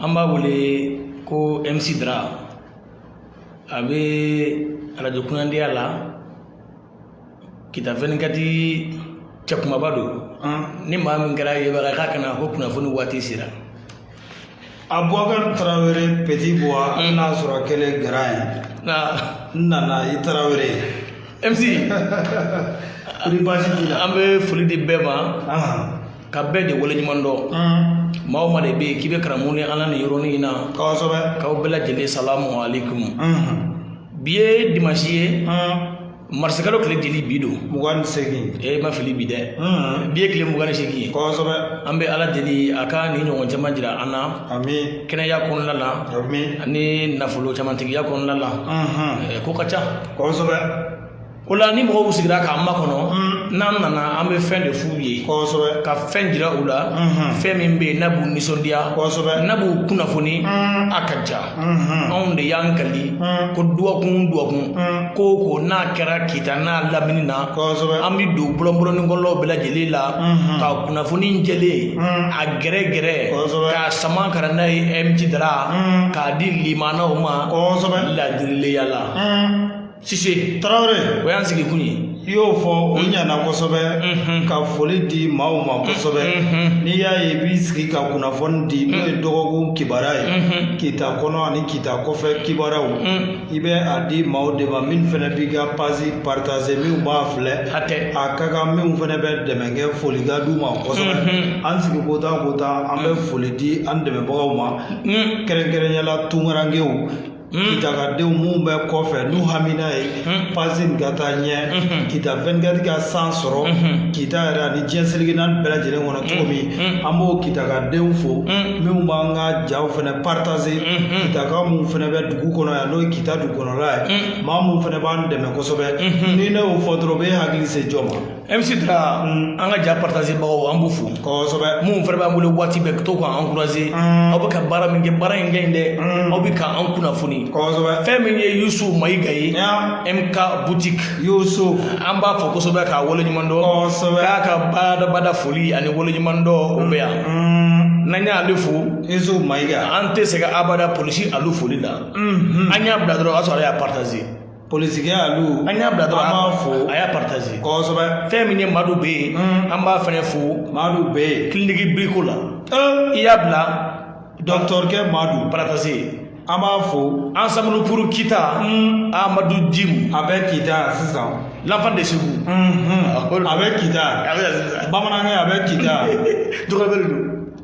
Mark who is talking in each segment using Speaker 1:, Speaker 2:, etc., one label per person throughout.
Speaker 1: an b'a wele ko MC Dra a bɛ arajo kunnadiya la kita 24 cɛ kumaba don ni maa min kɛra yebaga k'a kana ko kunnafoni waati sera
Speaker 2: Abubakar Tarawele Petit Bois hali n'a sɔrɔ kɛlen grand ye nka n nana i Tarawele MC kɔni baasi t'i la an bɛ foli di bɛɛ ma
Speaker 1: ahan ka bɛɛ de waleɲuman dɔn maa o maa de bɛ yen k'i bɛ karamɔgɔ ni ala ni yɔrɔnin in na kosɛbɛ k'aw
Speaker 2: bɛɛ lajɛlen
Speaker 1: salamu aleykum bi ye dimansi ye marisikalo tile jeli bi don mugan ni segin e
Speaker 2: ma fili bi
Speaker 1: dɛ bi ye tile mugan ni segin ye kosɛbɛ an bɛ
Speaker 2: ala
Speaker 1: deli a ka ni ɲɔgɔn caman jira an na ami kɛnɛya
Speaker 2: kɔnɔna la
Speaker 1: ami ani
Speaker 2: nafolo
Speaker 1: camantigiya kɔnɔna la ko ka ca kosɛbɛ
Speaker 2: o la
Speaker 1: ni mɔgɔw sigira k'an makɔnɔ n'an nana an bɛ fɛn de f'u ye kosɛbɛ ka
Speaker 2: fɛn jira u
Speaker 1: la fɛn min bɛ yen n'a b'u nisɔndiya kosɛbɛ n'a b'u
Speaker 2: kunnafoni
Speaker 1: a ka ja anw de y'an kali ko dɔgɔkun dɔgɔkun ko o ko n'a kɛra kita n'a lamini na kosɛbɛ an bɛ
Speaker 2: don
Speaker 1: bɔlɔnbɔlɔninkɔlɔw bɛɛ lajɛlen la ka kunnafoni jɛlen a gɛrɛ gɛrɛ kosɛbɛ k'a sama ka
Speaker 2: na n'a
Speaker 1: ye MC Dra k'a di limanaw ma kosɛbɛ ladiriya la. sise tarawele o y'an
Speaker 2: sigi kun
Speaker 1: ye i y'o fɔ
Speaker 2: o ɲana kosɛbɛ ka foli di maaw ma kosɛbɛ n'i y'a ye i b'i sigi ka kunnafoni di n'o ye dɔgɔkun kibaruya ye kita kɔnɔ ani kita kɔfɛ kibaruyaw i bɛ a di maaw de ma min fana b'i ka page partager minw b'a filɛ hatɛ a ka kan minw fana bɛ dɛmɛ kɛ foli ka d'u ma kosɛbɛ an sigi ko taa ko taa an bɛ foli di an dɛmɛbagaw ma kɛrɛnkɛrɛnya la tunkarankew kitaka denw minnu bɛ kɔfɛ n'u hamina ye page in ka taa ɲɛ kita 24 ka san sɔrɔ kita yɛrɛ ani diɲɛ seleke naani bɛɛ lajɛlen kɔnɔ cogo min an b'o kitaka denw fo minnu b'an ka jaw fɛnɛ partager kitaka minnu fɛnɛ bɛ dugu kɔnɔ yan n'o ye kita dugukɔnɔla ye maa minnu fɛnɛ b'an dɛmɛ kosɛbɛ ni ne y'o fɔ dɔrɔn u bɛ hakili se jɔn ma MC
Speaker 1: Dra an ka ja partagerbagaw an b'u fo kosɛbɛ minnu fana
Speaker 2: b'an bolo
Speaker 1: waati bɛɛ ka to k'an encourager aw bɛ ka baara min kɛ baara in kɛ in dɛ aw bɛ ka an kunnafoni fɛn min ye Yusuf Mayiga ye MK boutique Yusuf an b'a fo kosɛbɛ k'a waleɲuman dɔn y'a ka badabada foli ani waleɲuman dɔn o bɛ yan n'an y'ale fo Yusuf Mayiga an tɛ sɛgɛn abada polisi Alu foli la an y'a bila dɔrɔn o y'a sɔrɔ a y'a partager polisikɛ Alu an y'a bila dɔrɔn an b'a fo a y'a partager kosɛbɛ fɛn min ye madu bɛ yen an b'a fɛnɛ fo madu bɛ yen kiliniki biriko la i y'a bila dɔkitɔrikɛ madu partager an b'a fo ensemble pour kita amadu jimu a bɛ kita sisan l'enfant de Ségou a bɛ kita bamanankɛ a bɛ kita dɔgɔbele don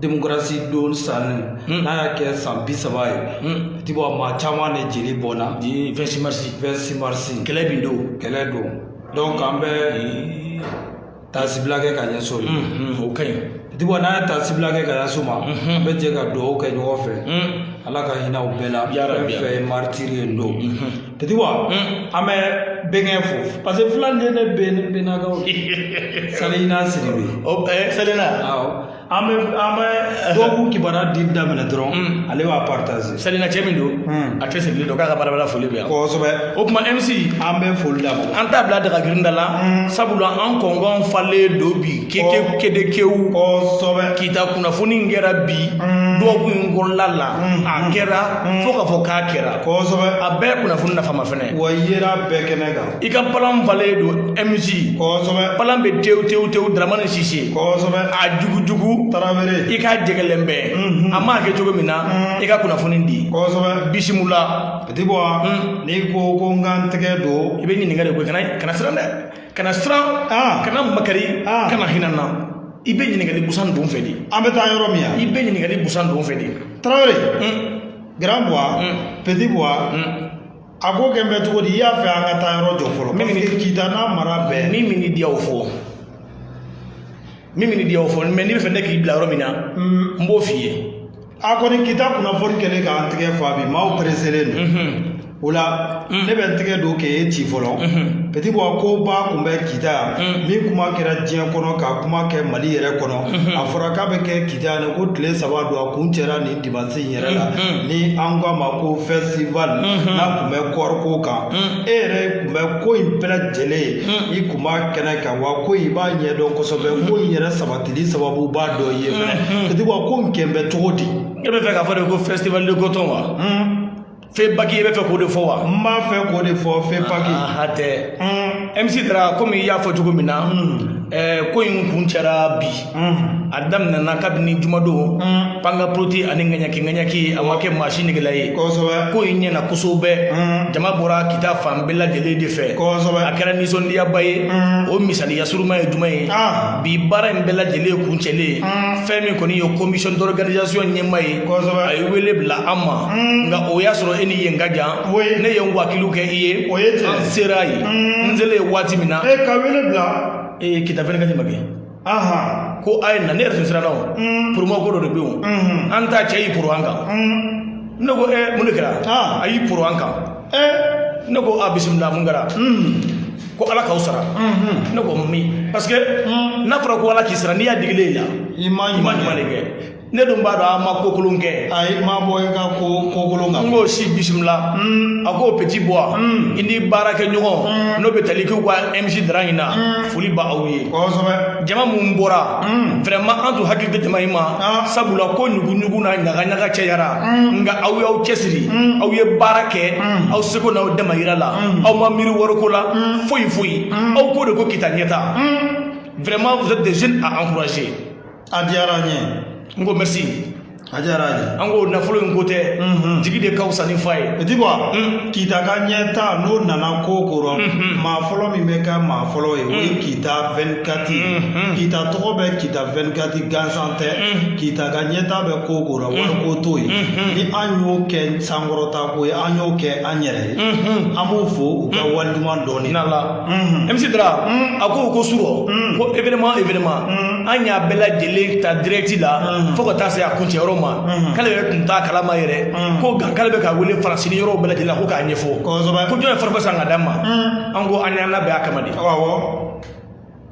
Speaker 1: demokarasi don sanni hmm. n'a y'a kɛ san bi saba ye hmm. petit bois maa caman de jeli bɔnna vingt-six mars vingt-six mars kɛlɛ bin don kɛlɛ don donc an bɛ taasibila kɛ ka ɲɛsin o ma o ka ɲi petit bois n'a ye taasibila kɛ ka ɲɛsin o ma an bɛ jɛ ka dugawu kɛ ɲɔgɔn fɛ ala ka hinɛ u bɛɛ la fɛn fɛn ye maritiri ye don petit bois an bɛ bɛnkɛ fo parce que fulaw de ne bɛnnakaw salina sidibe salina an bɛ an bɛ dɔgɔkun kibaruya di daminɛ dɔrɔn ale b'a partager salina cɛ min don a cɛsirilen don k'a ka baarabara foli bɛ yan kosɛbɛ o tuma mc an bɛ foli d'a ma an t'a bila daga girinda la sabula an kɔngɔn falen don bi kedekewu kosɛbɛ kita kunnafoni kɛra bi dɔgɔkun in kɔnɔna la a kɛra fo k'a fɔ k'a kɛra kosɛbɛ a bɛɛ kunnafoni nafama fɛnɛ wa yera bɛɛ kɛnɛ kan i ka palan falen don mc kosɛbɛ palan bɛ tewu tewu tewu daramani sise kosɛbɛ a jugujugu tarawele i ka jɛgɛlɛn bɛɛ a m'a kɛ cogo min na i ka kunnafoni di kosɛbɛ bisimila petit bois n'i ko ko n ka n tɛgɛ don i bɛ ɲininkali ko kana kana siran dɛ kana siran kana makari kana hinɛ na i bɛ ɲininkali busan don fɛ de an bɛ taa yɔrɔ min na i bɛ ɲininkali busan don fɛ de tarawele grand bois petit bois a ko kɛn bɛ cogo di i y'a fɛ an ka taa yɔrɔ jɔn fɔlɔ parce que kita n'a mara bɛɛ min bɛn'i diya o fɔ min bɛn'i diya o fɔ mais n'i bɛ fɛ ne k'i bila yɔrɔ min na n b'o f'i ye a kɔni kita
Speaker 2: kunnafoni kɛlen k'an tɛgɛ fa bi maaw pereselen don o la ne bɛ n tɛgɛ don k'e ci fɔlɔ petit bois koba kun bɛ kita yan min kuma kɛra diɲɛ kɔnɔ ka kuma kɛ mali yɛrɛ kɔnɔ a fɔra k'a bɛ kɛ kita yan ko tile saba don a kun cɛra nin Masi in yɛrɛ la ni an k'a ma ko festival n'a kun bɛ kɔɔriko kan e yɛrɛ kun bɛ ko in bɛɛ lajɛlen i kun b'a kɛnɛ kan wa ko i b'a ɲɛdɔn kosɛbɛ ko in yɛrɛ sabatili sababuba dɔ i ye fɛnɛ petit bois ko in kɛn bɛ cogo di e bɛ fɛ k'a fɔ de ko
Speaker 1: festival de coton wa FEPAC e bɛ fɛ k'o de fɔ wa n b'a fɛ k'o de
Speaker 2: fɔ FEPAC
Speaker 1: hatɛ MC Dara komi i y'a fɔ cogo min na ko in kun cɛra bi a daminɛna kabini jumadon pankaporoti ani ŋaɲaki ŋaɲaki a ma kɛ maa si negela ye kosɛbɛ ko in
Speaker 2: ɲɛna
Speaker 1: kosɛbɛ jama bɔra kita fan bɛɛ lajɛlen de fɛ kosɛbɛ a
Speaker 2: kɛra nisɔndiyaba
Speaker 1: ye o misaliya suruman ye jumɛn ye bi baara in bɛɛ lajɛlen kun cɛlen fɛn min kɔni ye commission d'organisation ɲɛmaa ye kosɛbɛ a ye wele bila an ma nka o y'a sɔrɔ e ni yen ka jan ne ye n wakilu kɛ i ye an sera yen n selen waati min na ka wele bila
Speaker 2: ee kita 24 ma
Speaker 1: kɛ ko a ye na ne yɛrɛ tun siranna o poromo ko dɔ de bɛ yen an ta cɛ y'i poron an kan ne ko ɛ mun de kɛra a y'i poron an kan ne ko a bisimila mun kɛra ko ala k'aw sara ne ko amin parce que n'a fɔra ko ala k'i sara n'i y'a digilen la i ma ɲuman de kɛ ne dun b'a dɔn an ma ko kolon kɛ a ye ma bɔ i ka
Speaker 2: ko ko kolon kan n k'o si
Speaker 1: bisimila a ko petit boy i ni baarakɛ ɲɔgɔn n'o bɛ tali k'u ka MC Dra in na foli ba aw ye kosɛbɛ jama min
Speaker 2: bɔra
Speaker 1: vraiment an tun hakili tɛ jama in ma sabula ko ɲugu-ɲugu na ɲaga-ɲaga cɛyara nka aw y'aw cɛsiri aw ye baara kɛ aw seko n'aw damayira la aw ma miiri wariko la foyi foyi aw ko de ko kita ɲɛta vraiment vous êtes des jeunes à encourager a diyara
Speaker 2: an ye n ko
Speaker 1: merci a diyara an
Speaker 2: ye an ko nafolo in ko
Speaker 1: tɛ jigi de ka fisa ni fa ye petit
Speaker 2: boy kita ka ɲɛta n'o nana ko ko rɔ maa fɔlɔ min bɛ kɛ maa fɔlɔ ye o ye kita 24 ye kita tɔgɔ bɛ kita 24 gansan tɛ kita ka ɲɛta bɛ ko ko rɔ wariko t'o ye ni an y'o kɛ sankɔrɔta ko ye an y'o kɛ an yɛrɛ ye an b'o fo u ka wali ɲuman dɔn in na MC
Speaker 1: Dra a ko ko surɔ ko événement événement an y'a bɛɛ lajɛlen ta direct la fo ka taa se a kuncɛ yɔrɔ ma k'ale yɛrɛ tun t'a kalama yɛrɛ ko nka k'ale bɛ ka wele faransi ni yɔrɔw bɛɛ lajɛlen la ko k'a ɲɛfɔ ko jɔn ye forfait san ka d'a ma an ko an y'an labɛn a kama
Speaker 2: de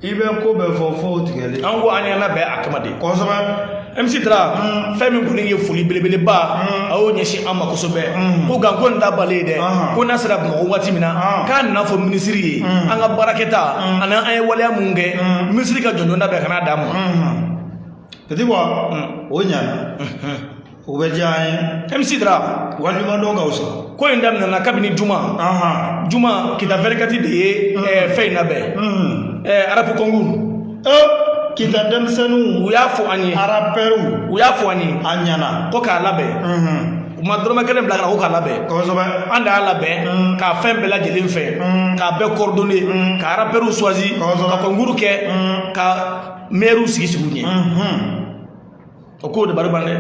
Speaker 2: i bɛ ko bɛɛ fɔ fo tigɛli an ko an y'an labɛn a
Speaker 1: kama de kosɛbɛ
Speaker 2: MC Dra
Speaker 1: fɛn min kɔni ye foli belebeleba a y'o ɲɛsin an ma kosɛbɛ ko nka ko nin t'a bannen ye dɛ ko n'a sera bamakɔ waati min na k'a na n'a fɔ minisiri ye an ka baarakɛta ani an ye waleya mun kɛ minisiri ka jɔnjɔn labɛn ka n'a d'an ma
Speaker 2: petit boy o ɲana o bɛ diya an ye MC
Speaker 1: Dra waliɲumandɔn ka
Speaker 2: wusa ko in
Speaker 1: daminɛna kabini juma juma kita 24 de ye fɛn in labɛn arapu kɔnkuru
Speaker 2: kita denmisɛnninw u y'a fɔ an
Speaker 1: ye arapɛriw u y'a
Speaker 2: fɔ an ye a
Speaker 1: ɲana ko
Speaker 2: k'a labɛn
Speaker 1: u ma dɔrɔmɛ kelen bila ka na ko k'a labɛn kosɛbɛ an de y'a
Speaker 2: labɛn
Speaker 1: k'a fɛn bɛɛ lajɛlen fɛ k'a bɛɛ coordonner ka arapɛriw suwazi ka kɔnkuru kɛ ka mɛriw sigi sigi u ɲɛ o ko dabariban dɛ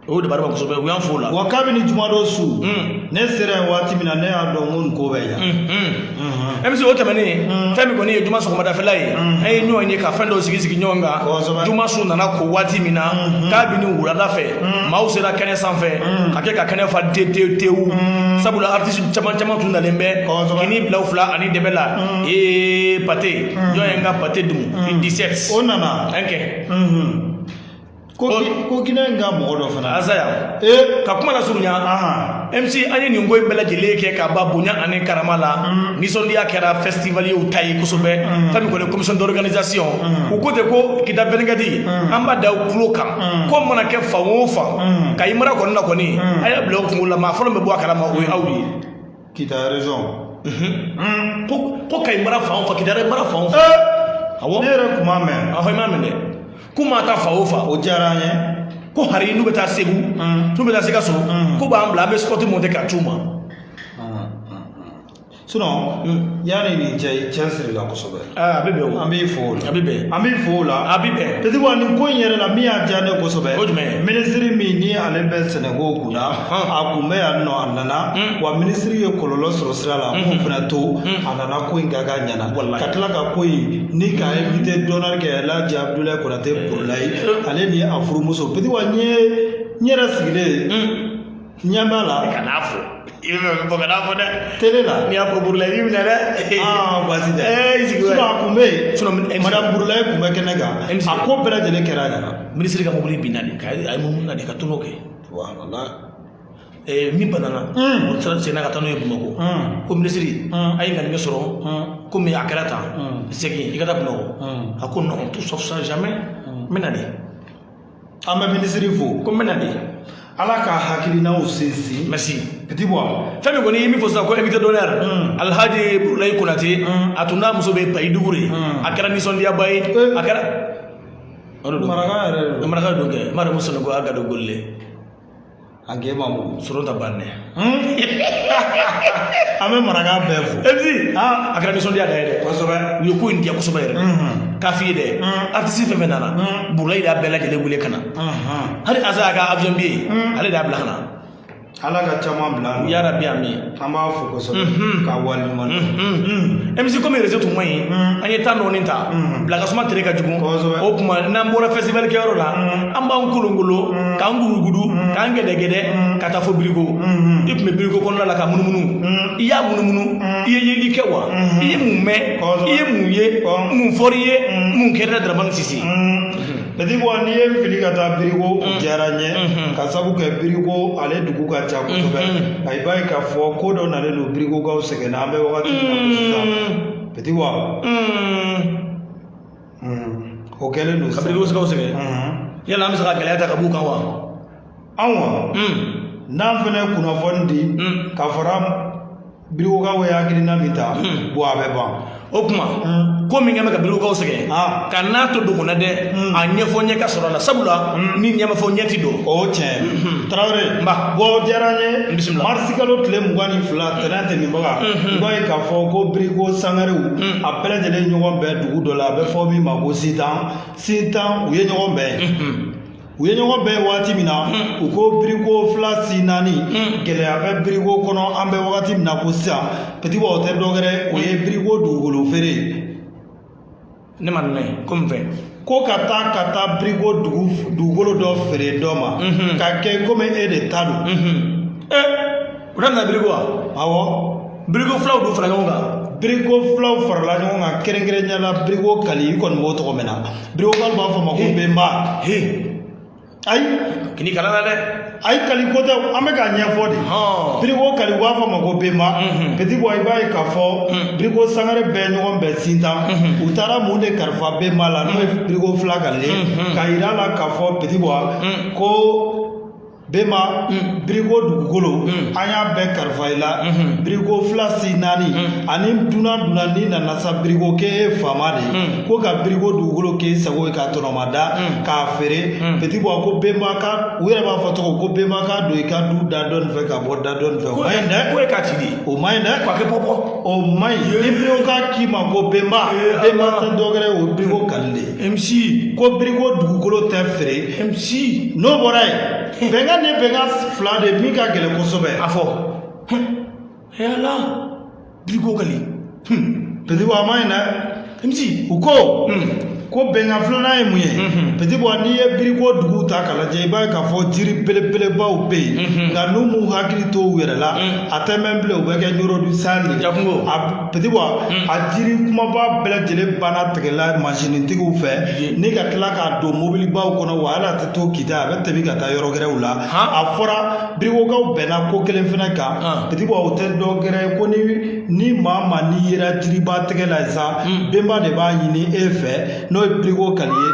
Speaker 1: o dabariban kosɛbɛ u y'an fo o la wa kabini jumadon
Speaker 2: su hmm. ne sera yen waati min na ne y'a dɔn ko nin ko bɛ yan hmm,
Speaker 1: hmm. MC o tɛmɛnen fɛn min kɔni ye juma sɔgɔmadafɛla ye an ye ɲɔgɔn ye ka fɛn dɔw sigi sigi ɲɔgɔn kan juma su nana ko waati min na kabini wulada fɛ maaw sera kɛnɛ sanfɛ ka kɛ ka kɛnɛ fa te te tewu sabula artisi caman caman tun nalen bɛ kini bila fila ani dɛbɛ la ee pate jɔn ye n ka pate dun 17 o nana an kɛ
Speaker 2: ko ki- ko ginɛ in ka mɔgɔ dɔ fana Azaya ee
Speaker 1: ka kuma lasurunya mc an ye nin ko in bɛɛ lajɛlen kɛ ka ban bonya ani karama la nisɔndiya kɛra festivalierw ta ye kosɛbɛ fɛn min kɔni commission d'organisation u ko ten ko kita vingt-quatre an b'a da u tulo kan ko mana kɛ fan o fan kayi mara kɔni na kɔni a y'a bila u kunkolo la maa fɔlɔ min bɛ bɔ a kalama o ye aw ye Kita
Speaker 2: région. Mhm. Ko
Speaker 1: kayi mara fan o fan kita mara fan o fan. Eh! Awɔ. Ne yɛrɛ kun m'a mɛn.
Speaker 2: Awɔ i m'a mɛn dɛ.
Speaker 1: Ko maa taa fan o fan. O diyara an ye.
Speaker 2: Ko hari n'u
Speaker 1: bɛ taa Segu. Mm. N'u bɛ taa Sikaso. Mm. K'u b'an bila an bɛ spot monter k'a c'u ma. Mm, sinon
Speaker 2: yanni nin cɛ i cɛsiri la kosɛbɛ a bɛ bɛn an
Speaker 1: b'i fo o la a bɛ
Speaker 2: bɛn an b'i fo
Speaker 1: o la a
Speaker 2: bɛ bɛn Petit Bois
Speaker 1: nin ko in
Speaker 2: yɛrɛ la min y'a diya ne kosɛbɛ o jumɛn
Speaker 1: minisiri min ni ale
Speaker 2: bɛ sɛnɛko kun na a kun bɛ yan nɔ a nana wa minisiri ye kɔlɔlɔ sɔrɔ sira la k'o fana to a nana ko in ka k'a ɲɛna ka tila ka ko in ni ka invité d'honneur kɛ Alhaji Abudulayi Konate Burulayi ale ni a furumuso Petit Bois ne yɛrɛ sigilen ɲɛ b'a la kan'a fɔ
Speaker 1: i bɛ fɛn fɔ kan'a fɔ dɛ tele la n'i y'a
Speaker 2: fɔ burulayi b'i
Speaker 1: minɛ dɛ baasi
Speaker 2: tɛ i sigi a
Speaker 1: kun
Speaker 2: bɛ yen madame burulayi kun bɛ kɛnɛ kan a ko bɛɛ lajɛlen kɛra a ɲɛna minisiri ka mobili binna
Speaker 1: de a yɛlɛmana de ka tonneau kɛ min banana o taara senna ka taa n'o ye bamakɔ ko minisiri a ye kandimi sɔrɔ komi a kɛra tan segin i ka taa bamakɔ a ko non tout sauf ça jamais n bɛ na de
Speaker 2: an bɛ minisiri fo ko n bɛna
Speaker 1: de ala
Speaker 2: ka hakilinaw sinsin merci Petit Bois fɛn min kɔni i ye min fɔ
Speaker 1: sisan ko invité d'honneur alhaji burulayi konate a tun n'a muso bɛ payi dugu de a kɛra nisɔndiyaba ye a
Speaker 2: kɛra maraka yɛrɛ maraka don kɛ Mariyamu
Speaker 1: Sanogo a gadogolile
Speaker 2: an k'e ma mun sɔrɔ ta ban dɛ an bɛ maraka bɛɛ fo MC a kɛra
Speaker 1: nisɔndiya da ye dɛ kosɛbɛ u ye ko in diya
Speaker 2: kosɛbɛ yɛrɛ
Speaker 1: k'a f'i ye dɛ artisi fɛn fɛn nana burulayi de y'a bɛɛ lajɛlen wele ka na hali Azaya ka avion billet ale de y'a bila ka na ala ka
Speaker 2: caman bila ya rabi amin
Speaker 1: an b'a
Speaker 2: fo kosɛbɛ ka wale ɲuman dɔn MC komi réseau tun
Speaker 1: man ɲi an ye temps dɔɔni ta bilakasuma tere ka jugu Kosɛbɛ. o tuma n'an bɔra festival kɛyɔrɔ la an b'an kolonkolo k'an gudugudu k'an gɛdɛgɛdɛ ka taa fo biriko i tun bɛ biriko kɔnɔna la ka munumunu i y'a munumunu i ye yeli kɛ wa i ye mun mɛn Kosɛbɛ. i ye mun ye Kosɛbɛ. mun fɔr'i ye mun kɛra daramani sisi Petit Bois
Speaker 2: n'i ye n fili ka taa biriko o diyara n ye ka sabu kɛ biriko ale dugu ka ca kosɛbɛ nka i b'a ye k'a fɔ ko dɔ nalen don birikokaw sɛgɛnna an bɛ wagati min na ko sisan Petit Bois o kɛlen don ka birikokaw
Speaker 1: sɛgɛn yala an bɛ se ka gɛlɛya ta ka b'u kan wa anw wa
Speaker 2: n'an fana ye kunnafoni di ka fara birikokaw ye hakilina min ta bon a bɛ ban o
Speaker 1: kuma ko min kɛ bɛ ka birikokaw sɛgɛn kan'a to dogo la dɛ a ɲɛfɔ ɲɛ ka sɔrɔ a la sabula ni ɲɛ ma fɔ ɲɛ tɛ dɔn o tiɲɛ
Speaker 2: tarawele n ba bon o diyara
Speaker 1: n
Speaker 2: ye bisimila marisi kalo
Speaker 1: tile mugan
Speaker 2: ni fila tɛnɛn tɛmɛbaga i b'a ye k'a fɔ ko biriko sangarew a bɛɛ lajɛlen ɲɔgɔn bɛn dugu dɔ la a bɛ fɔ min ma ko sintan sintan u ye ɲɔgɔn bɛn yen u ye ɲɔgɔn bɛn waati min na u ko biriko fila si naani gɛlɛya bɛ biriko kɔnɔ an bɛ wagati min na ko sisan Petit Boua o tɛ dɔwɛrɛ o ye biriko dugukolo feere
Speaker 1: ne ma nana ye ko min fɛ ko ka taa
Speaker 2: ka taa biriko dugu dugukolo dɔ feere dɔ ma ka kɛ komi e de ta don
Speaker 1: u daminɛ biriko wa
Speaker 2: awɔ biriko filaw dun
Speaker 1: fara ɲɔgɔn kan biriko filaw
Speaker 2: farala ɲɔgɔn kan kɛrɛnkɛrɛnnenya la biriko kali i kɔni b'o tɔgɔ mɛn na biriko kali b'a fɔ ma ko benba ayi kana kali
Speaker 1: a la dɛ ayi kali ko tɛ
Speaker 2: an bɛ k'a ɲɛfɔ de biriko kali u b'a fɔ ma ko benba Petit Boua i b'a ye k'a fɔ biriko sangare bɛɛ ɲɔgɔn bɛn sintan u taara mun de kalifa benba la n'o ye biriko fila kali ye k'a yira a la k'a fɔ Petit Boua ko Bɛnba biriko dugukolo an y'a bɛɛ kalifa i la biriko fila si naani ani dunan dunan n'i nana sa biriko k'e ye faama de ye ko ka biriko dugukolo k'e sago ye k'a tɔnɔmada k'a feere Petit Boua ko bɛnba ka u yɛrɛ b'a fɔ cogo ko bɛnba ka don i ka du da dɔ nin fɛ ka bɔ da dɔ nin fɛ o man ɲi dɛ ko e ka ci di o
Speaker 1: man ɲi dɛ k'a kɛ
Speaker 2: bɔ
Speaker 1: bɔ o man ɲi
Speaker 2: ni birikokaw k'i ma ko bɛnba bɛnba tɛ dɔ wɛrɛ ye o ye biriko kali de ye MC ko biriko
Speaker 1: dugukolo
Speaker 2: tɛ feere MC
Speaker 1: n'o bɔra
Speaker 2: yen bɛnkan ni bɛnkan fila de min ka gɛlɛn kosɛbɛ a
Speaker 1: fɔ yala biriko kali Petit
Speaker 2: Boua a man ɲi dɛ MC u ko ko bɛnkan filanan ye mun ye Petit Boua n'i ye biriko dugu ta k'a lajɛ i b'a ye k'a fɔ jiri belebelebaw bɛ yen nka n'u m'u hakili to u yɛrɛ la a tɛ mɛn bilen u bɛ kɛ Nioro du Sahel jakunko a Petit Boua a jiri kunbaba bɛɛ lajɛlen banna tigɛ la mansintigiw fɛ ni ka tila k'a don mobilibaw kɔnɔ wa hali a tɛ to kita a bɛ tɛmɛ ka taa yɔrɔ wɛrɛw la a fɔra birikokaw bɛnna ko kelen fana kan Petit Boua o tɛ dɔ wɛrɛ ye ko ni ni maa maa n'i yera jiriba tigɛ la sa benba de b'a ɲini e fɛ n'o ye biriko kali ye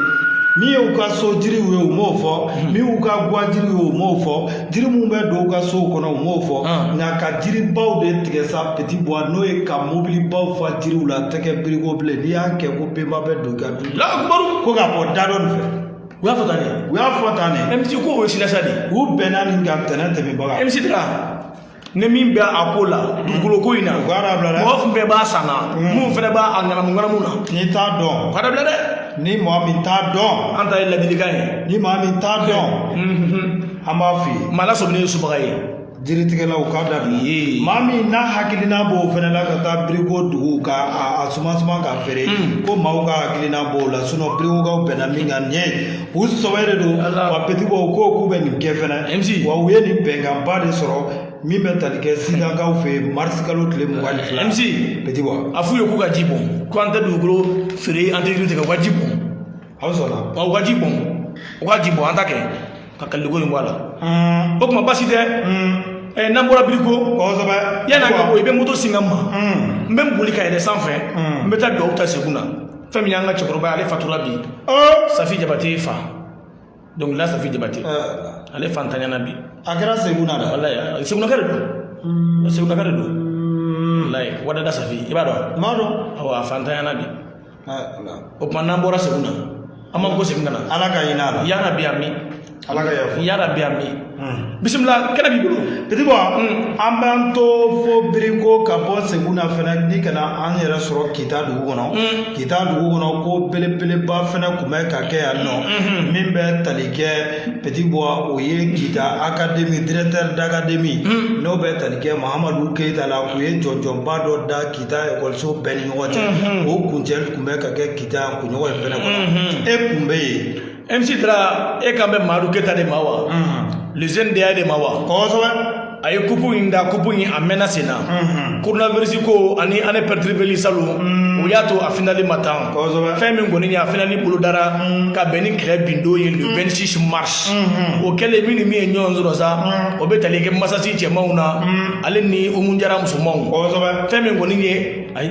Speaker 2: min ye u ka so jiriw ye u m'o fɔ min y'u ka guwa jiriw ye u m'o fɔ jiri minnu bɛ don u ka sow kɔnɔ u m'o fɔ nka ka jiribaw de tigɛ sa Petit Boua n'o ye ka mobilibaw fa jiriw la tɛ kɛ biriko bilen n'i y'a kɛ ko benba bɛ don i ka du ko ka bɔ da dɔ nin fɛ u y'a fɔ tan de
Speaker 1: u y'a fɔ tan de mc
Speaker 2: ko o ye
Speaker 1: silasa de
Speaker 2: ye u
Speaker 1: bɛnna
Speaker 2: nin
Speaker 1: kan
Speaker 2: tɛnɛn tɛmɛbaga mc tɛ ka
Speaker 1: ni min bɛ a ko la dugukolo ko in na u k'a dabila dɛ mɔgɔ bɛɛ b'a san na min fɛnɛ b'a a ŋanamu ŋanamu na n'i t'a dɔn u k'a
Speaker 2: dabila dɛ ni
Speaker 1: maa min t'a
Speaker 2: dɔn an ta ye ladilikan ye
Speaker 1: ni maa min t'a dɔn
Speaker 2: an b'a f'i ye maa lasɔminen ye subaga
Speaker 1: ye jiritigɛlaw
Speaker 2: k'a dabila maa min n'a hakilina b'o fɛnɛ la ka taa biriko dugu ka a suma suma ka feere ko maaw ka hakilina b'o la birikokaw bɛnna min kan nin ye u sɔbɛ de don wa pɛtibɔ u k'o k'u bɛ nin kɛ fɛnɛ wa u ye nin bɛnkanba de sɔrɔ min bɛ tali kɛ sidakaw fɛ yen marisi kalo tile mugan ni fila mc pɛtibɔ
Speaker 1: a f'u ye k'u
Speaker 2: ka ji bɔn
Speaker 1: ko an tɛ dugukolo feere an tɛ jiri tigɛ u ka ji bɔn aw
Speaker 2: sɔnna wa u ka ji
Speaker 1: bɔn u ka ji bɔn an ta kɛ ka kaliko in bɔ a la o tuma basi tɛ ɛɛ n'an bɔra biriko kosɛbɛ yanni an ka
Speaker 2: bɔ i bɛ moto
Speaker 1: singa n ma n bɛ n boli ka yɛlɛ sanfɛ n bɛ taa dugawu ta seguna fɛn min y'an ka cɛkɔrɔba ale fatura bi safi jabate fa dɔnkilila safi jabate ale fantanyana bi a kɛra seguna
Speaker 2: walayi segunaka de
Speaker 1: don segunaka de don walayi wadada safi i b'a dɔn n b'a dɔn awɔ
Speaker 2: a fantanyana
Speaker 1: bi o tuma n'an bɔra seguna an b'an kɔsegin ka na ala ka hinɛ a la ya
Speaker 2: rabbi amin
Speaker 1: ala ka yafa
Speaker 2: ya rabbi
Speaker 1: amin bisimila kɛnɛ b'i bolo
Speaker 2: pɛtibɔ an b'an to fo biriko ka bɔ seguna fɛnɛ ni ka na an yɛrɛ sɔrɔ kita dugu kɔnɔ kita dugu kɔnɔ ko belebeleba fɛnɛ kun bɛ ka kɛ yan nɔ min bɛ tali kɛ pɛtibɔ o ye kita akademi directeur d'académie n'o bɛ tali kɛ mahamadu keyita la u ye jɔnjɔnba dɔ da kita ekɔliso bɛɛ ni ɲɔgɔn cɛ o kuncɛli kun bɛ ka kɛ kita kunɲɔgɔn in fɛnɛ kɔnɔ e kun bɛ yen MC Dra e kan bɛ Madu Keyita de ma wa? Le jeune DA de ma wa? Kosɛbɛ. A ye kupu in da kupu in a mɛnna sen na. Coronavirus ko ani année perturbée salon o y'a to a finali ma tan. Kosɛbɛ. Fɛn min kɔni ye a finali bolodara ka bɛn ni kɛlɛ bin don ye le 26 mars. O kɛlen min ni min ye ɲɔgɔn sɔrɔ sa o bɛ tali kɛ masasi cɛmanw na ale ni Umu Jara musomanw. Kosɛbɛ. Fɛn min kɔni ye ayi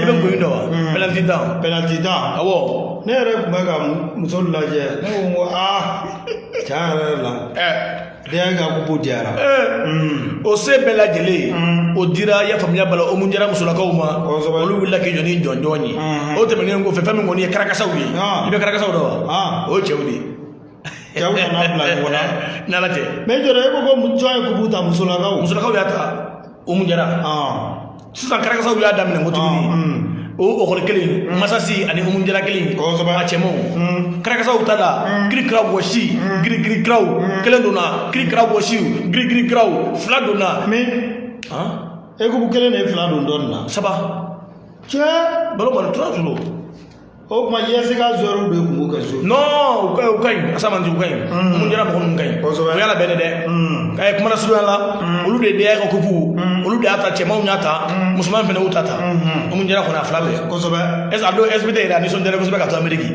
Speaker 1: i bɛ gɔni dɔn wa penaliti tan penaliti tan awɔ ne yɛrɛ tun bɛ ka muso lajɛ ne ko n ko aa tiɲɛ yɛrɛ la denkɛ ka kupu diyara o se bɛɛ lajɛlen o dira i y'a faamuya bala umu jara musolakaw ma olu wulila k'i jɔ ni jɔnjɔn ye o tɛmɛnen kɔfɛ fɛn min kɔni ye karakasaw ye i bɛ karakasaw dɔn wa o ye cɛw de ye cɛw nana bila ɲɔgɔn na n'ala tɛ mais dra e ko ko jɔn ye kupu ta musolakaw musolakaw y'a ta umu jara sisan karakasaw y'a daminɛ ko tuguni o ekɔli kelen masasi ani umu jara kelen a cɛmanw karakasaw ta la kirikira wɔsi girigiri kiraw kelen donna kirikira wɔsi girigiri kiraw fila donna e ko kelen de ye fila don dɔɔnin na saba cɛ balon kɔni tora tun don o tuma IES ka joueurw de tun b'u ka so non u ka u ka ɲi Asamanti u ka ɲi Umu Jara mɔgɔ ninnu ka ɲi Kosɛbɛ. o y'a labɛn dɛ k'a ye kuma surunya la olu de DA ka kupu olu de y'a ta cɛmanw y'a ta musoman fana y'u ta ta Umu Jara kɔni a fila bɛɛ kosɛbɛ ɛseke a don SBT yɛrɛ a nisɔndiyara kosɛbɛ ka to ameriki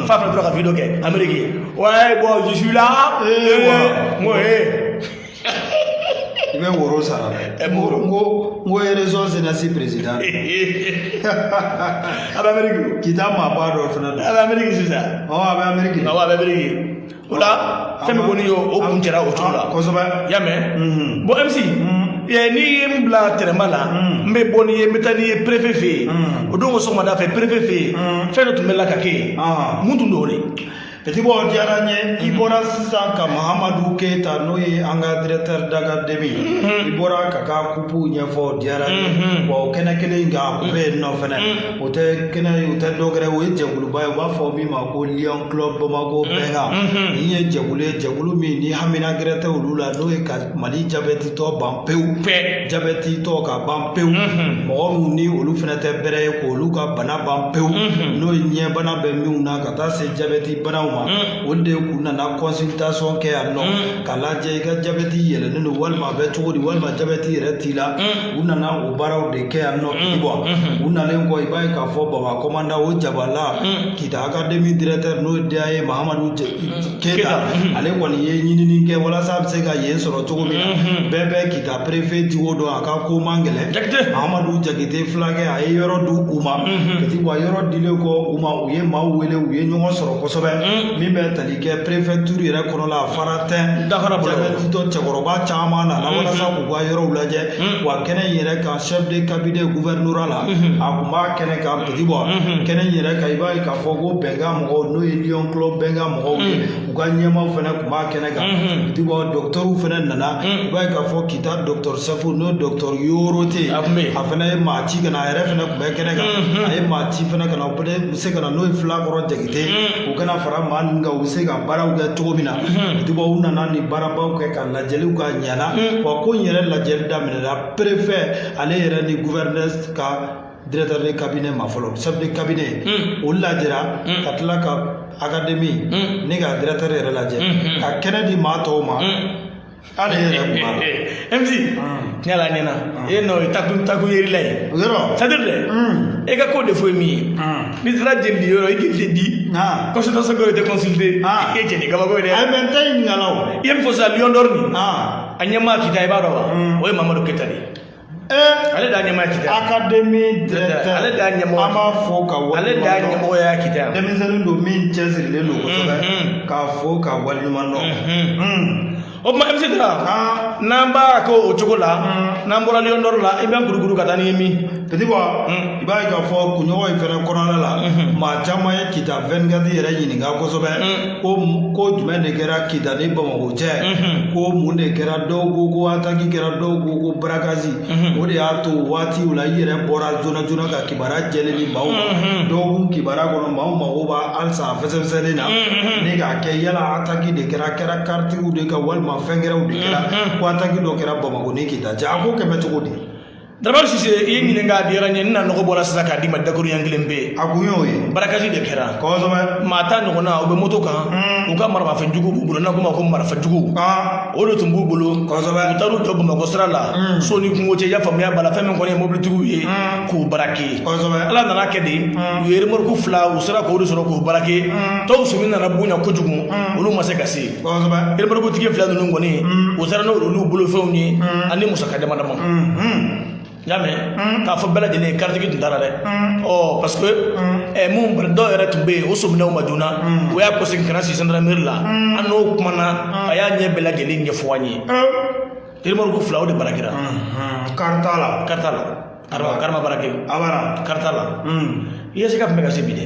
Speaker 1: f'a fana tora ka video kɛ ameriki wa bɔn je suis là Eh, wa. n ko ee i bɛ woro sara dɛ n ko n ko n ko eresɔn senasi perezidan a bɛ Ameriki Kita maaba dɔ fana don a bɛ Ameriki sisan ɔ a bɛ Ameriki awɔ a bɛ Ameriki o la fɛn min kɔni ye o kuncɛra o cogo la kosɛbɛ y'a mɛn bɔn MC n'i ye n bila tɛrɛnba la n bɛ bɔ n'i ye n bɛ taa n'i ye perefe fɛ yen o don ko sɔgɔmada fɛ perefe fɛ yen fɛn dɔ tun bɛ la ka kɛ yen mun tun don o de Petit Bɔ diyara n ye i bɔra sisan ka mahamadu keyita n'o ye an ka directeur d'académie i bɔra ka ka kupuw ɲɛfɔ diyara n ye wa o kɛnɛ kelen in kan o bɛ yen nɔ fɛnɛ o tɛ kɛnɛ ye o tɛ dɔ wɛrɛ o ye jɛkuluba ye u b'a fɔ min ma ko lion club bamako bɛnkan nin ye jɛkulu ye jɛkulu min ni hamina gɛrɛ tɛ olu la n'o ye ka mali jabɛtitɔ ban pewu jabɛtitɔ ka ban pewu mɔgɔ minnu ni olu fɛnɛ tɛ bɛrɛ ye k'olu ka bana ban pewu n'o ye ɲɛbana bɛ minnu na ka ka taa se jabɛti banaw
Speaker 2: ma olu de kun nana consultation kɛ yan nɔ k'a lajɛ i ka jabɛti yɛlɛnnen don walima a bɛ cogo di walima jabɛti yɛrɛ t'i la u nana o baaraw de kɛ yan nɔ Petit Bɔ u nalen kɔ i b'a ye k'a fɔ baba kɔmanda o jabala kita akademi directeur n'o ye DA ye Mahamadu Keyita ale kɔni ye ɲinini kɛ walasa a bɛ se ka yen sɔrɔ cogo min na bɛɛ bɛ kita préfet jogo dɔn a ka ko man gɛlɛn Mahamadu Jakite fulakɛ a ye yɔrɔ di u ma Petit Bɔ wa yɔrɔ dilen kɔ u ma U ye maaw wele u ye ɲɔgɔn sɔrɔ kosɛbɛ min bɛ tali kɛ préfecture yɛrɛ kɔnɔ la a fara tɛn jabɛtitɔ cɛkɔrɔba caman nana walasa k'u ka yɔrɔw lajɛ wa kɛnɛ in yɛrɛ kan chef de cabinet gouvernorat la a kun b'a kɛnɛ kan Petit Bɔ kɛnɛ in yɛrɛ kan i b'a ye k'a fɔ ko bɛnkan mɔgɔw n'o ye Lion Club bɛnkan mɔgɔw ye u ka ɲɛmaaw fana kun b'a kɛnɛ kan Petit Bɔ docteurw fana nana i b'a ye k'a fɔ kita docteur chef n'o docteur Yorote a fana ye maa ci ka na a yɛrɛ fana kun bɛ kɛnɛ kan a ye maa ci fana ka na u bɛ se ka na n'o ye Fulakɔrɔ Jakite u ka na fara maa ninnu kan u bɛ se ka baaraw kɛ cogo min na Petit Bɔ u nana nin baarabaw kɛ ka lajɛliw ka ɲɛna wa ko in yɛrɛ lajɛli daminɛna préfet ale yɛrɛ ni gouverneur ka directeur de cabinet ma fɔlɔ chef de cabinet o lajɛra ka tila ka akademi ne ka directeur yɛrɛ lajɛ ka kɛnɛ di maa tɔw ma ale yɛrɛ kun b'a la MC tiɲɛ
Speaker 1: la ɲɛna e nɔ ye taku taku yerila ye o c'est à dire dɛ e ka ko de fɔ ye min ye n'i sera jeli di yɔrɔ i k'i jeli di consultation ko i tɛ consulter i k'e jeli kabako ye dɛ ayi mɛ n tɛ ɲininkala
Speaker 2: o i ye min fɔ sisan lion d'or
Speaker 1: nin a ɲɛmaa kita i b'a dɔn wa o ye mamadu keta de ye ale da ɲɛmɔgɔ kita akademi
Speaker 2: directeur ale da ɲɛmɔgɔ an
Speaker 1: b'a fo k'a
Speaker 2: wale ale da ɲɛmɔgɔ ya kita
Speaker 1: denmisɛnnin don min
Speaker 2: cɛsirilen don kosɛbɛ k'a fo k'a waleɲumandɔn o tuma
Speaker 1: MC Dara n'an b'a kɛ o cogo la n'an bɔra Lion d'Or la i bɛ kurukuru ka taa ni min Petit Boy i
Speaker 2: b'a ye k'a fɔ kunɲɔgɔn in fɛnɛ kɔnɔna la maa caman ye kita 24 yɛrɛ ɲininka kosɛbɛ ko ko jumɛn de kɛra kita ni bamakɔ cɛ ko mun de kɛra dɔw ko ko ataki kɛra dɔw ko ko barakazi o de y'a to waatiw la i yɛrɛ bɔra joona joona ka kibaruya jɛlen di maaw ma dɔgɔkun kibaruya kɔnɔ maaw mago b'a halisa a fɛsɛfɛsɛlen na ne k'a kɛ yala ataki de kɛra kɛra karitigiw de kan walima fɛn gɛrɛw de kɛra ko ataki dɔ kɛra bamakɔ ni kita cɛ a ko kɛlen bɛ cogo di Daramani
Speaker 1: Sise i ye n ɲininka a diyara n ye n na nɔgɔ bɔra sisan k'a d'i ma dakuruɲɛ kelen pe a kun y'o ye
Speaker 2: barakasi de kɛra
Speaker 1: kɔsɔbɛ maa
Speaker 2: tan ɲɔgɔnna u bɛ
Speaker 1: moto kan u ka maramafɛn jugu b'u bolo n'an k'o ma ko marifa jugu aa o de tun b'u bolo kɔsɔbɛ u taar'u
Speaker 2: jɔ bamakɔ
Speaker 1: sira la so ni kungo cɛ i y'a faamuya b'a la fɛn min kɔni ye mobilitigiw ye k'u barake kɔsɔbɛ ala nan'a kɛ
Speaker 2: de
Speaker 1: u ye remɔruku fila u sera k'o de sɔrɔ k'u barake tɔw sɔmi nana bonya kojugu olu ma se ka se kosɛbɛ
Speaker 2: remɔrukutigi fila
Speaker 1: ninnu kɔni u taara n'olu bolofɛnw ye ani musaka dama dama n y'a mɛn k'a fɔ bɛɛ lajɛlen ye karitigi tun t'a la dɛ ɔ parce que ɛ mobili dɔw yɛrɛ tun bɛ yen o sɔmin'u ma joona o y'a kɔsegin ka na se sandarameri la an n'o kumana a y'a ɲɛ bɛɛ lajɛlen ɲɛfɔ an ye remɔruku fila o de barakera kari t'a la kari t'a la kari ma kari ma barake abada kari t'a la i ye se ka tun bɛ ka se bi dɛ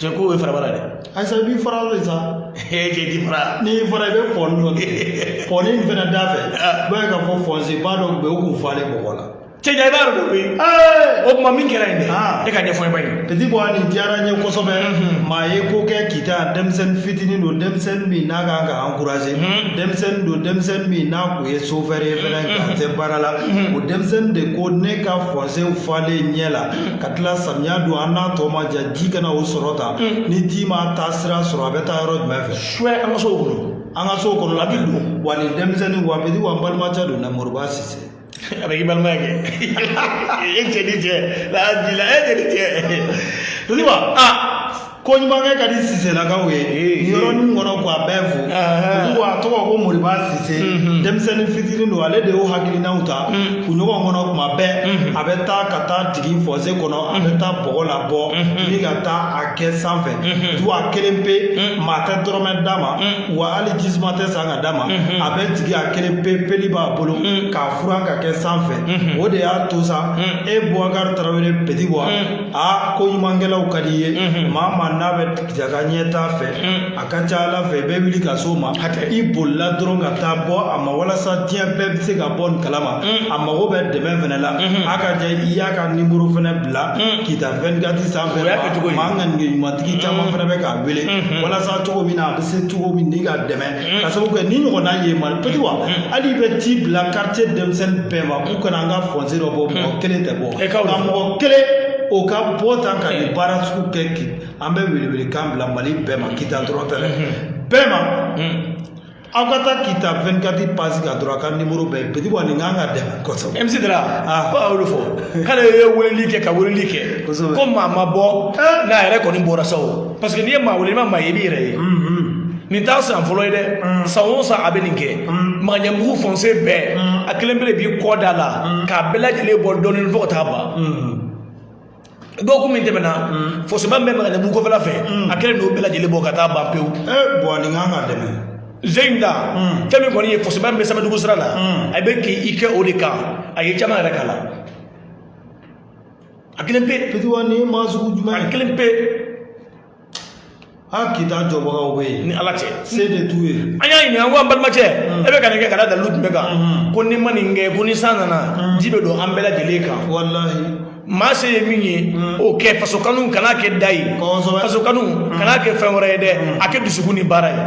Speaker 2: cɛ ko o
Speaker 1: ye farabara dɛ ayisa i b'i fara
Speaker 2: de sa e k'i di
Speaker 1: fara n'i fara i bɛ pɔni
Speaker 2: dɔ kɛ pɔni in fana da fɛ i b'a ye k'a fɔ fɔnse ba dɔ bɛ yen o kun falen bɔgɔ la cɛ ja i b'a yɔrɔ dɔn koyi
Speaker 1: o tuma min kɛra yen dɛ e k'a ɲɛfɔ maa ye peti bɔ aa nin diyara n
Speaker 2: ye kosɛbɛ maa ye ko kɛ kita denmisɛnnin fitinin don denmisɛnnin min n'a kan ka ankuraze denmisɛnnin don denmisɛnnin min n'a kun ye sofɛri ye fɛnɛ k'a tɛ baara la o denmisɛnnin de ko ne ka fɔnsew falen ɲɛ la ka tila samiya don an n'a tɔ ma ja ji kana o sɔrɔ ta ni ji ma taasira sɔrɔ a bɛ taa yɔrɔ jumɛn fɛ suya an ka sow kɔnɔ
Speaker 1: an ka sow kɔnɔ a bɛ
Speaker 2: don wa nin denmisɛnnin wa peti wa n balimacɛ don na moriba sise a bɛ k'i
Speaker 1: balima ye kɛ e cɛ ni cɛ n'a dila e cɛ ni cɛ peti wa aa
Speaker 2: koɲumankɛ ka di siselakaw ye nin yɔrɔnin kɔnɔ k'a bɛɛ fo wa a tɔgɔ ko moriba sise denmisɛnnin fitinin don ale de y'o hakilinaw ta kunɲɔgɔn kɔnɔ kuma bɛɛ a bɛ taa ka taa jigin fɔse kɔnɔ a bɛ taa bɔgɔ labɔ ni ka taa a kɛ sanfɛ du a kelen pe maa tɛ dɔrɔmɛ d'a ma wa hali jisuma tɛ san ka d'a ma a bɛ jigin a kelen pe peli b'a bolo k'a furan ka kɛ sanfɛ o de y'a to sa e bubakari tarawele peti bɔ aa ko ɲumankɛlaw ka di i ye maa maa n'a bɛ kita ka ɲɛtaa fɛ a ka ca la fɛ i bɛ wuli ka s'o ma i bolila dɔrɔn ka taa bɔ a ma walasa diɲɛ bɛɛ bɛ se ka bɔ nin kalama a mago bɛ dɛmɛ fɛnɛ la a ka ja i y'a ka nimoro fɛnɛ bila kita 24 sanfɛ maa ŋaniya ɲumantigi caman fɛnɛ bɛ k'a wele walasa cogo min na a bɛ se cogo min n'i k'a dɛmɛ ka sababu kɛ nin ɲɔgɔnna ye ma petit wa hali bɛ ci bila quartier denmisɛnnin bɛɛ ma k'u ka na an ka fɔnse dɔ bɔ mɔgɔ kelen tɛ bɔ nka mɔgɔ kelen o ka bɔ tan ka nin baara sugu kɛ an bɛ welewelekan bila mali bɛɛ ma kita dɔrɔn tɛ dɛ bɛɛ ma aw ka taa kita 24 page kan dɔrɔn a ka nimoro bɛ yen petit wa nin kan ka dɛmɛ kosɛbɛ MC Dara ko
Speaker 1: a y'olu fɔ k'ale ye weleli kɛ ka weleli kɛ ko maa ma bɔ n'a yɛrɛ kɔni bɔra sa o parce que n'i ye maa wele i ma maa ye i b'i yɛrɛ ye nin t'a san fɔlɔ ye dɛ san o san a bɛ nin kɛ makanjanbugu fɔnse bɛɛ a kelen pe de b'i kɔ da la k'a bɛɛ lajɛlen bɔ dɔɔnin fo ka taa ban dɔgɔkun min tɛmɛna fɔseba min bɛ makanjanbugu kɔfɛla fɛ a kelen n'o bɛɛ lajɛlen bɔ ka taa ban pewu bɔn nin kan
Speaker 2: ka dɛmɛ zeyin
Speaker 1: da fɛn min kɔni ye fɔseba min bɛ samɛdugu sira la a bɛ k'i i kɛ o de kan a ye caman yɛrɛ k'a la a kelen pe petit wa nin maa
Speaker 2: sugu jumɛn a kelen
Speaker 1: pe
Speaker 2: a kita jɔbagaw bɛ yen ni ala cɛ se de t'u
Speaker 1: ye
Speaker 2: an y'a ɲininka ko an balimacɛ
Speaker 1: e bɛ ka nin kɛ ka da dalilu jumɛn kan ko n'i ma nin kɛ ko ni san nana ji bɛ don an bɛɛ lajɛlen kan
Speaker 2: walahi maa se
Speaker 1: ye min ye o kɛ faso kanu kana kɛ da ye faso kanu kana kɛ fɛn wɛrɛ ye dɛ a kɛ dusukun ni baara ye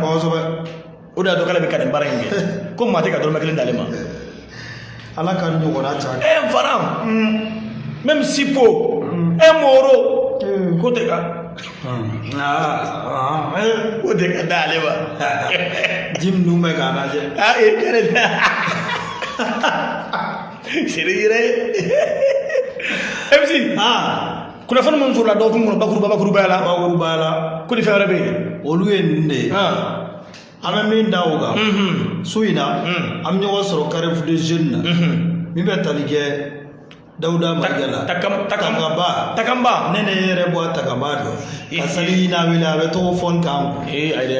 Speaker 1: o de y'a to k'ale bɛ ka nin baara in kɛ ko maa tɛ ka dɔrɔmɛ kelen d'ale ma
Speaker 2: ala k'a ɲɔgɔnna ca un
Speaker 1: franc même si po e moro k'o tɛ ka k'o tɛ ka d'ale ma
Speaker 2: ji minnu bɛ k'a lajɛ a e kɛrɛ
Speaker 1: tɛ seere yɛrɛ ye mc kunnafoni minnu sɔrɔla dɔgɔkun kɔnɔ bakuruba bakurubaya la bakurubaya la ko ni fɛn wɛrɛ bɛ yen olu ye nin de
Speaker 2: ye an bɛ min da o kan su in na an bɛ ɲɔgɔn sɔrɔ carrefour des jeunes na min bɛ tali kɛ dawuda mayiga la takanba takanba ne ne yɛrɛ b'o takanba dɔn ka sali n'a wele a bɛ tɔgɔ fɔ n kan ee ayi dɛ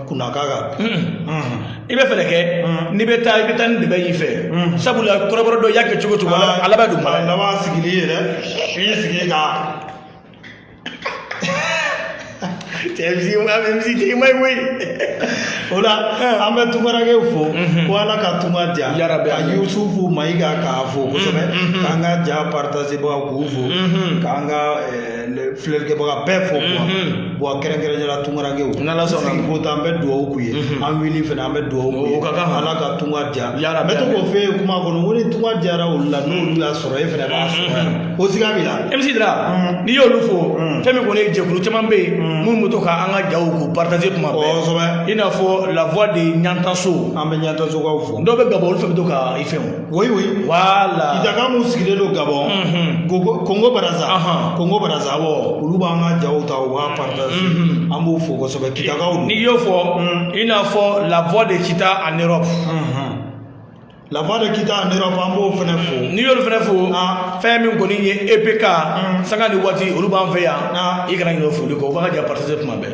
Speaker 2: kunna k'a kan i
Speaker 1: bɛ fɛɛrɛ kɛ n'i bɛ taa i bɛ taa ni dɛbɛn y'i fɛ sabula kɔrɔbɔrɔ dɔn y'a kɛ cogo cogo a laban don a laban sigili yɛrɛ
Speaker 2: i y'i sigi ka
Speaker 1: cɛ MC i ma ye koyi o
Speaker 2: la an bɛ tungarankɛw fo ko ala ka tunga diya yarabi ka yusufu mayiga k'a fo kosɛbɛ k'an ka ja paritazibaga k'u fo k'an ka filɛlikɛbaga bɛɛ fo bon kɛrɛnkɛrɛnnenya la tungarankew n'ala sɔnna ko an bɛ dugawu k'u ye an wuli fana an bɛ dugawu k'u ye o ka kan ala ka tunga diya yala bɛ to k'o f'e ye kuma kɔnɔ ko ni tunga diyara olu la n'olu y'a sɔrɔ e fana b'a sɔrɔ yan o siga b'i la MC Dra
Speaker 1: n'i y'olu fo fɛn min kɔni ye jɛkulu caman bɛ yen minnu bɛ to ka an ka jaw k'u partage kuma bɛɛ kosɛbɛ i n'a fɔ la voix de ɲantaso an bɛ ɲantasokaw
Speaker 2: fo dɔw bɛ Gabon olu fɛnɛ bɛ to ka
Speaker 1: i fɛnw Oui, oui.
Speaker 2: Voilà. Kitaka
Speaker 1: mun sigilen
Speaker 2: don Gabon. Unhun. Congo Congo Brazza. Ahan. Congo Brazza awɔ. Olu b'an ka jaw ta u b'a partage. Unhun. An b'u fo kosɛbɛ. Kitakaw don. N'i y'o fo Mm.
Speaker 1: i n'a fɔ la voix de kita en Europe
Speaker 2: Unhun. La voix de Kita en Europe an b'o fɛnɛ fo. n'i y'olu fɛnɛ
Speaker 1: fo Ah. fɛn min kɔni ye EPK Mm. sanga ni waati olu b'an fɛ yan Ah. i kana ɲinɛ o foli kɔ u b'an ka ja partage kuma bɛɛ